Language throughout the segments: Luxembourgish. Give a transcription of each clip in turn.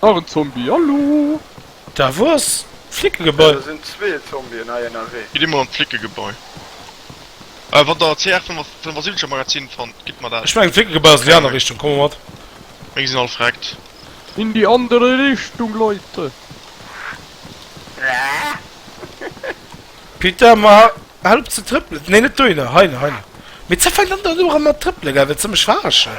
Och en Zombie, hallo! Da wou ass d'Flickegebai? Do sinn zwee Zombien hei ënnerwee. Gitt eemol an d'Flickegebai. A wann der CR 75 am Magazin fannt, gitt mer dat. Ech mengen d'Flickegebai ass an déi aner Richtung, komm mol mat. Meng sinn all vreckt. In die andere Richtung, Leute! Peter, ma hëlp ze trëppelen. Nee, net dohinner, heinner, heinner. Mee ze fänkt an dann elo erëm mat trëppele gell, wëlls de mech verarschen?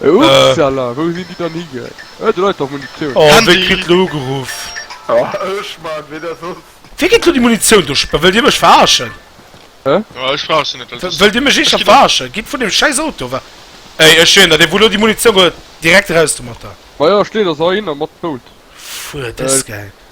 Upsala, wou sinn déi dann higeet? Ëh, do läit dach Munitioun! Oh, wéi kritt lo ugeruff? Oh, ech man, ween ass soss? Wéi kritt lo déi Munitioun do? Wëllt dir mech verarschen? Hä? Oh, ech verarschen net, well dës. Wëllt dir mech eeschter verarschen? Gitt vun deem schäiss Auto ewech! Ey, ech ween der, dee wou lo déi Munitioun huet! Direkt eraus domatter! Majo, steet ass ahinner mat Bout! Fuer dës Gäng!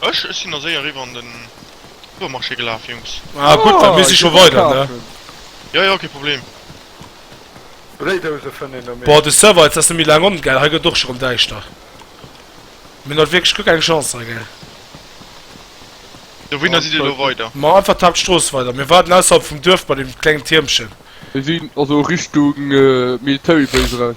Ech? Ech sinn ass éier eriwwer an den Supermarché gelaf, Jungs. Ah gutt, da misst ech scho weider, ne? Jo, jo, kee Problem. Bréidouse fënnt een do méi. Boah, de Server jetzt ass net méi laang on, gell? Hei gëtt et och scho rem däischter. Mir hunn haut wierklech guer keng Chance hei, gell? Dowéinner sidd dir elo weider? Ma einfach d'Hauptstrooss weider. Mir waarden ausserhalb vum Duerf bei deem klengen Tiermchen. Mir sinn also Richtung Military Base eraus.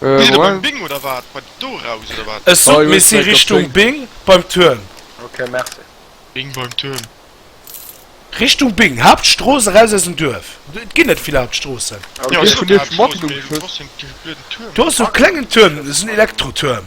Wieder beim Bing oder wat? Beim Doraus oder wat? Ech sot mir si Richtung Bing beim Tuerm. Ok merci. Bing beim Tuerm. Richtung Bing, Hauptstrooss eraus aus dem Duerf. Et ginn net vill Hauptstroossen. Du has sou klengen Tuerm, dat ass en Elektrotuerm.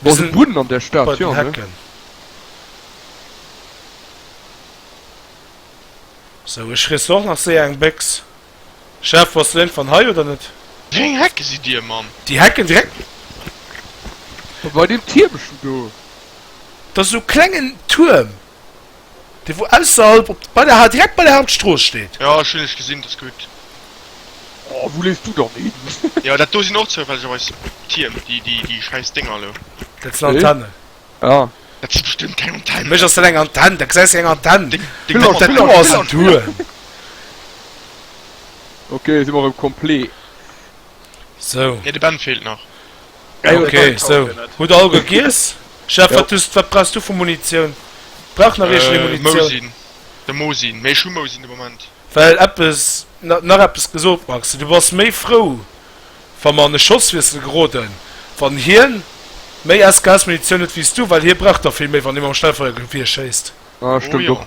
Boah, so Buden an der Stadt, ja, ne? So, ech riss och nach séier eng Béchs. Chef, wars du iergendwann hei oder net? Wéi eng Hecke sidd dir, Mann? Déi Hecken direkt. Bei deem Tiermchen do. Dat ass esou klengen Tuerm. Dee wou ausserhalb op bei der direkt bei der Hauptstrooss steet. Jo ech hunn lech gesinn, dat ass gutt. Oh wou leefs du dann hin? Jo dat do sinn och zoufällegerweis Tierm, déi déi déi schäiss Dénger elo. Dat sinn Antennen. Ah. Dat si bestëmmt keng Antennen. Mech ass dat eng Antenn, da gesäis de eng Antenn. Deng Mamm ass blond. Dat do ass en Tuerm. Ok si mer erëm complet. Sou. Nee de Ben feelt nach. Ok sou hutt all gegiess. Chef wat hues wat brauchs du vu Munitioun? Brauch nach iergend ee Munitioun? Mousin de Mosin mee ech hu Mousin de Moment. Well eppes na nach eppes gesot Max du bass méi frou wa mer an e Schosswiessel geroden wann hien méi SKS Munitioun huet wéi s du well hie brauch der vill méi wann ee mam Schnellfeuergewier schéisst. Ah stemmt och.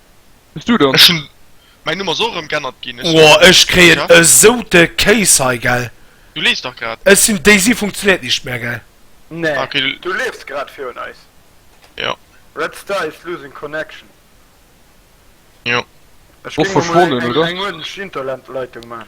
Bist du dann? Ech hun mein Nummer ass och erem gennert gin. Ohh ech kréien esou de Kéis hei gell. Du lees dach grad. Ech sin Daisy funktioniert nicht mehr gell. Nee du leefs grad fir un eis. Jo. Red Star is losing connection. Jo. Ech ging mol eng Orange Internet Leitung maan.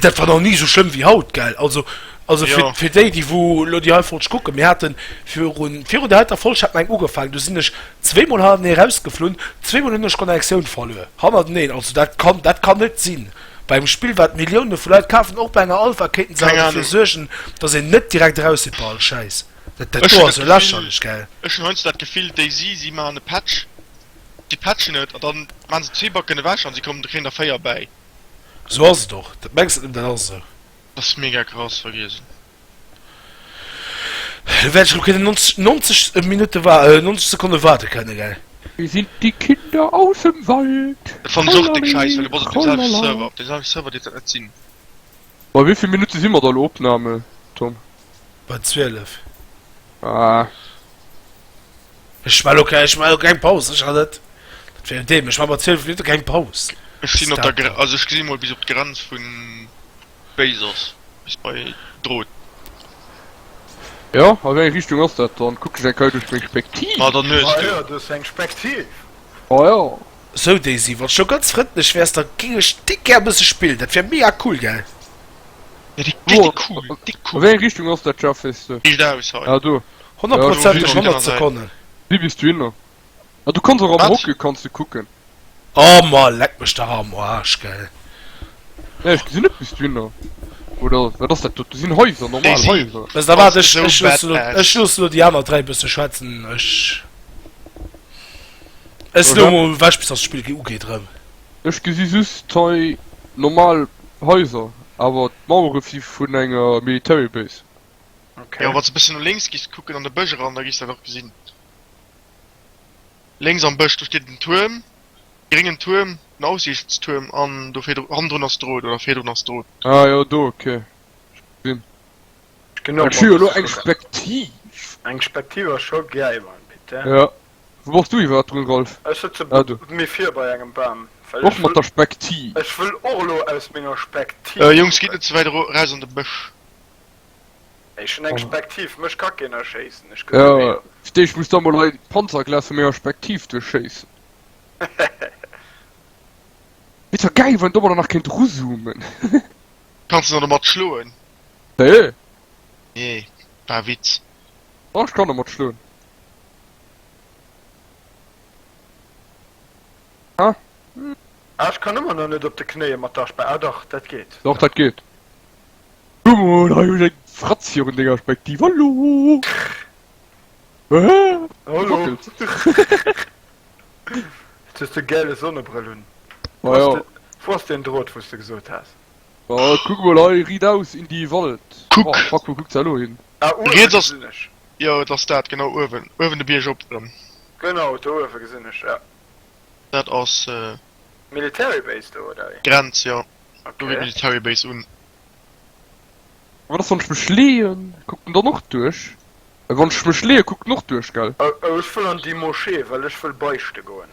Dat war nach ni esou schlëmm wéi haut. Also fir déi, déi elo déi hei Folg kucken, mir hate virun der heiter Folg hat mer eng ugefaangen, du sinn ech zweemol hannertenee erausgeflunn, zweemol hunn ech d'Connectioun verluer hannerteneen. Also dat kann dat kann net sinn bei engem Spill, wat Millioune vu Leit kafen. Och bei enger Alpha kéinten se derfir suergen, datt een net direkt eraus sidd bei all Schäiss. Dat do ass jo lächerlech. Ech hunn heiansdo dat Gefill, déi si maachen e Patch. Déi pätschen et an dann maan se zwee Backen ewech an se kommen do kéint a véier bäi. Sou ass et och, dat mengs net nëmmen, dat ass esou. Dat ass mega krass, vergiess. Lo wäert ech lo kënnen 90, 90 Minutte wa, 90 Sekonne waarde kënne, gell? Mir sind die Kinder aus dem Wald, Dat fannen ech och déck schéiss, well du bass op dem selwechte Server, op dem selwechte Server dierft dat net sinn. Bei wéi vill Minutte si mer da lo Opname, Tom? Bei 12. Ah. Ech war okay, ech war keng Paus ech hat net fir deem ech war mat 12 Minutte keng Paus. Ech sinn op der also ech gesi mol bis op d'Grenz vun Béisers bis bei Drot. Jo a wéi eng Richtung ass dat dann? Kuck ech eng Keier duerch meng Spektiv? Ma dann hues du. Ah jo, du hues eng Spektiv. Ah jo. Sou Daisy, wanns du ganz frëndlech wärs da ging ech dik gär bësse spillen, dat wär mega cool gell? Ja dik dik dik cool, dik cool. An wéi eng Richtung ass dat Schaff wees du? Riicht aus hei. Ah do. Honnertprozenteg 100 Sekonnen. Wéi bis du hinner? Ah du kanns och am Hockey kanns du kucken. Oh ma leck mech dach am Aarsch gell. Nee ech gesin net bis du hinner. Oder wat ass dat do? Do sin Häuser, normal Häuser. Daisy, da waart ech loosse lo déi aner 3 bësse schwätzen, ech. Ech lo mol ewech bis das Spill ugeet rem. Ech gesi just hei normal Haiser, awer d'Mauere si vun enger Military Base. Jo, wanns de bëssen no lénks gis kucken an de Bësch eran, da gis dat och gesin. Lénks am Bësch do steet en Tuerm, gréngen Tuerm, en Aussiichtstuerm an do virdru, hannendrun ass d'Rout oder virdrun ass d'Rout. Ah jo, do, ok, ech gesin. Ech hu jo lo eng Spektiv. Eng Spektiv a scho gei man bitte. Jo. Wou bass du iwwerhapt drun, Rolf? Ech sëtze Ah, do. méi vir bei engem Bam, well Och ech mat wëll, der Spektiv. ech wëll och elo aus menger Spektiv Jungs, gitt kucken. net ze wäit eraus an de Bësch. Ech hunn eng Spektiv, mech ka keen erschéissen, ech gesi Jo, wéi. fir d'éischt muss da mol hei d'Panzerglas vu menger Spektiv duerchschéissen. Et wär gäil, wann een domadder nach kéint eruzoomen. Kanns de nach domat schloen? Hä? Nee, war e Witz. Ach, ech kann domat schloen. Ah. Ah, ech kann ëmmer nach net op de Knéie mat der Spekt. Ah dach, dat geet. Doch, dat geet. Guck mol, hei hu ech eng Fratz virun denger Spektiv. Hallo! Hä? Hallo! Wackelt. Jetzt hues de gäle Sonnebrëll un. Wo ass de, wou ass deen Drot, wou s de gesot has? Ah, kuck mol hei, riit aus in die Wald. Kuck. Oh, fuck, wou kuckt se elo hin? Ah uewen Riets ass, gesinn ech. jo et ass dat, genau uewen, uewen de Bierg op erëm. Genau do uewen gesinn ech ja. Dat ass. Military Base do oder wéi? Grenz jo, do geet Ok. Military Base un. Wat ass wann ech mech leeën? Kuckt en dann och duerch? Wann ech mech leeën kuckt en och duerch gell? Oh oh ech wëll an déi Moschee well ech wëll beischte goen.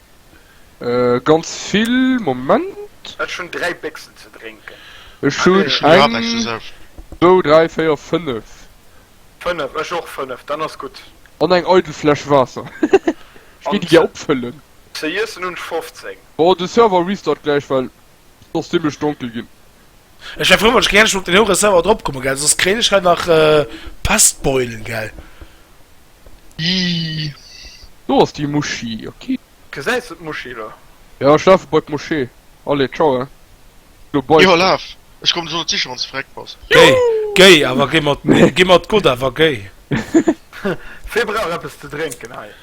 Äh, ganz vill, Moment. Ech hunn 3 Béchsen ze drénken. Ech hunn Ech hunn grad eppes ze eng, saufen. zwou, dräi, véier, fënnef. 5, ech och 5, dann ass gutt. An eng eidel Fläsch Waasser. Ech géing An déi gär ze, opfëllen. ze iessen hunn ech 15. Bon, de Server restart gläich, well Soss zimmlech donkel gin. Ech war frou wann ech gäerch op den hoeren Server drop kommen gell soss kréien ech hei nach Pestbeulen gell. Ii do ass déi Moschee ok. Gesäis de d'Moschee lo? Jo ech lafe bei d'Moschee. Allez ciao hein lo bye. Jo laf ech kommen ech soll et sichen wanns de verreckt bass. Géi géi awer géi mat géi mat Gott awer géi. Fir brauch eppes ze drénken hei.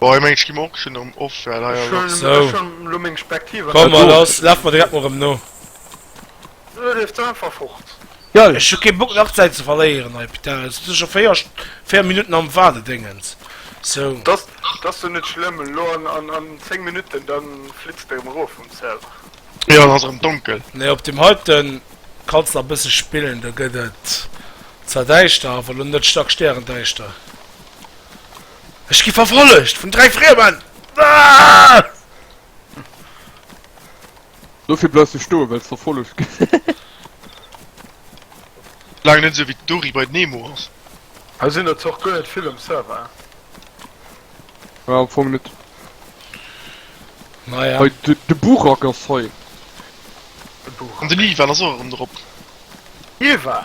Boah ech mengen ech gi mer och schon erem off well hei ass Ech hun schon lo meng Spektiv an der Hand. Laf mer direkt mol erem no. Oder leeft se einfach fort. Ech hu keen Bock nach Zäit ze verléieren hei putain, elo sin ech scho 4 Minuten am Waardedéngens sou. Dass dass jo net schlëmm, elo an 10 Minuten dann flitzt de erem erof vum Server. Jo dann ass erem donkel. Nee op dem heiten kanns nach e bësse spillen, do gëtt et zwar däischter awer lo net stark stäerendäischter. Ech gi verfollegt vun dräi Friemen! Aaah! Dofir bleifs du stoen, wells verfollegt gëss. Laang net esou wéi d'Dory bei Nemo ass. Hei sinn der zwar och guer net vill um Server. Jo, am Fong net. Naja. Hei, de Burak ass hei. De Burak. An den Ivan ass och erëm drop. Ivan?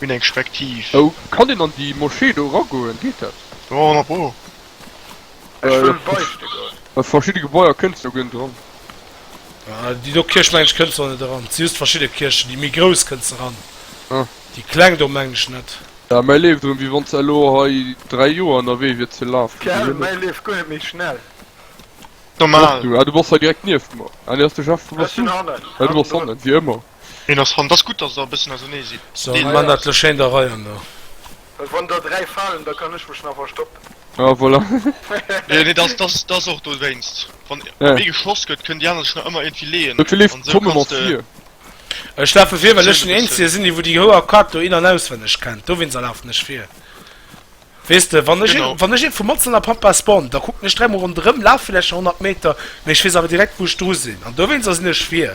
Hun eng Spektiv. Oh, kann een an déi Moschee do eragoen? Geet dat? Jo, na bo. Ech wëll beichte goen. A verschidde Gebaier kënnst de goen dran. Ah, déi do Kierch mengen ech kënnst do net eran. Et si just verschidde Kierchen. Déi méi grouss kënnst de ran. Ah. Déi kleng do mengen ech net. Ja, mäi leeft erëm, wéi wann s de elo hei dräi Joer ënnerwee wiers fir lafen ze Gell, goen. mäi leeft guer net méi schnell. Och Normal. du? Ah, du bass hei direkt nieft mer. Ah, nee, ass de Jeff. Wou Ech bass sinn du? hannen, Ah, du hannen bass drun. hannen, wéi ëmmer. Hien ass ran. T'ass gutt, dass der e bëssen ausernee sidd. So, Deen Mann hat lech hei an der Rei an der. Wann der dräi falen, da kann ech mech nach verstoppen. Ah, voilà. Nee, nee, t'ass, t'ass, t'ass och dowéinst. Wann ee geschloss gëtt, kënnen déi aner sech nach ëmmer iergendwéi leeën. Dofir leef de Tom ëmmer vir. Ech lafe vir, well ech den Eenzege sinn, dee wou déi Hoer Kaart do in an auswenneg kennt. Dowéinst lafen ech vir. Weess de, wann ech, wann ech ee vu Matzen a Pampa spawn, da kucken ech dräimol ronderëm, laf villäicht nach 100 Meter, mee ech weess awer direkt, wou ech dru sinn. An dowéinst ass nees schwier.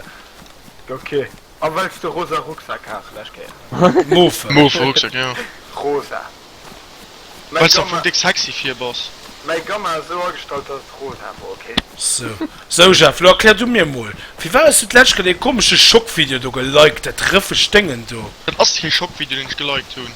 Ok. A well s de rosa Rucksak has, lescht Kéier. Mauve. Mauve Rucksak, jo. Rosa. Well s de einfach déck sexy vir bass. Mäi Gamma ass esou agestallt, dass et rosa wor, ok? Sou. Sou, Jeff, lo erklär du mir mol, firwat hues du d'lescht Kéier dee komesche Schockvideo do geliked, dat rëffegt Déngen do? Dat ass kee Schockvideo, deen ech geliked hunn.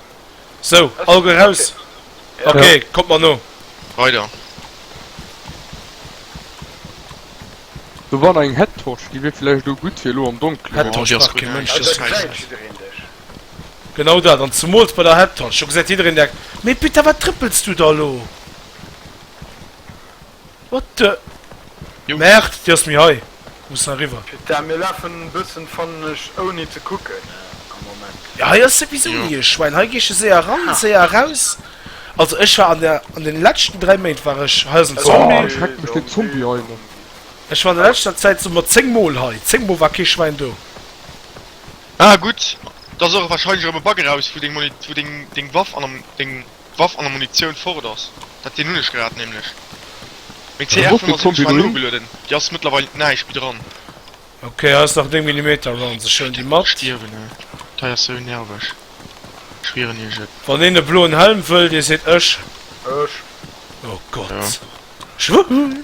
Sou, all guer raus. Ok, kommt mer no. Weider. Do war nach eng Headtorch, déi wier villäicht elo gutt fir elo am Donkelen. Headtorch brauch kee Mënsch, dat ass schäissegal. Genau dat, an zemools bei der Headtorch, do gesäit jiddereen direkt, mee Peter, wat trëppels du da elo? What the? Merde, déi ass méi hei. Déi muss nach eriwwer. Putain, mir lafen e bëssen, fannen ech, ouni ze kucken am Moment. Jo, hei ass souwisou ni e Schwäin. Hei geesch e séier eran, séier eraus. Also, ech war an der, an den leschten 3 Méint war ech, hei ass en Zombie. Oh, schreckt mech dee Zombie hei ëmmer. Ech war an der leschter Zäit esou mat 10 Mol hei. 10 Mol war kee Schwäin do. Ah, gutt. T'ass och wahrscheinlech erëm e Bug eraus, wou deng Muni, wou deng, deng Waff an am, deng. Waff an der Munitioun fort ass. Dat sinn hunn ech grad nämlech. Meng CR 75 war nogelueden, déi ass mëttlerweil näischt méi dran. Ok hei ass nach 9 Millimeter Rounds, ech huelen déi mat. Stierwen ey, dei ass sou nerveg, ech schwieren iech et. Wann een e bloen Helm wëll, dee seet ech. Ech. Oh Gott, ech. Wuhhuu.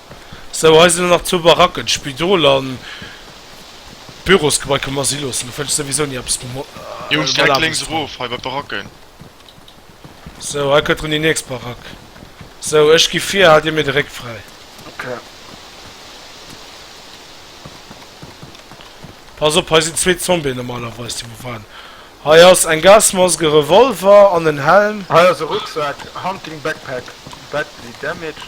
Sou, hei sinn der nach zwou Baracken, d'Spidol an d'Bürosgebai. Komm lass si loossen, do fënnt ech souwisou ni eppes mam Hond. Jungs, direkt lénks erof, hei bei d'Baracken. Sou, hei kënnt run déi nächst Barack. Sou, ech gi vir, haalt dir mir de Réck fräi. Ok. Pass op, hei sinn zwee Zombien normalerweis, déi wou waren. Hei ass eng Gasmask, e Revolver an en Helm. Hei ass e Rucksak, Hunting Backpack badly damaged.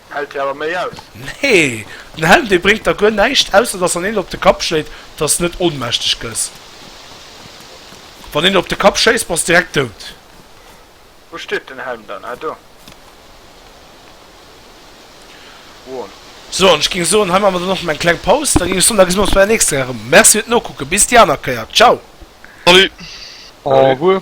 Hellt hir awer méi aus. Nee, den Helm dee bréngt der guer näischt, ausser dass wann een op de Kapp schléit, dass de net ohnmächteg gëss. Wann een der op de Kapp schéisst, bass direkt dout. Wou steet den Helm dann? Ah do. Won. So, an ech géing soen, hei maache mer dann och nach eng kleng Paus, da géing ech soen, da gesi mer ons bei der nächster Rei erëm. Merci fir d'Nokucken, bis déi aner Kéier. Ciao! Salut! Au revoir!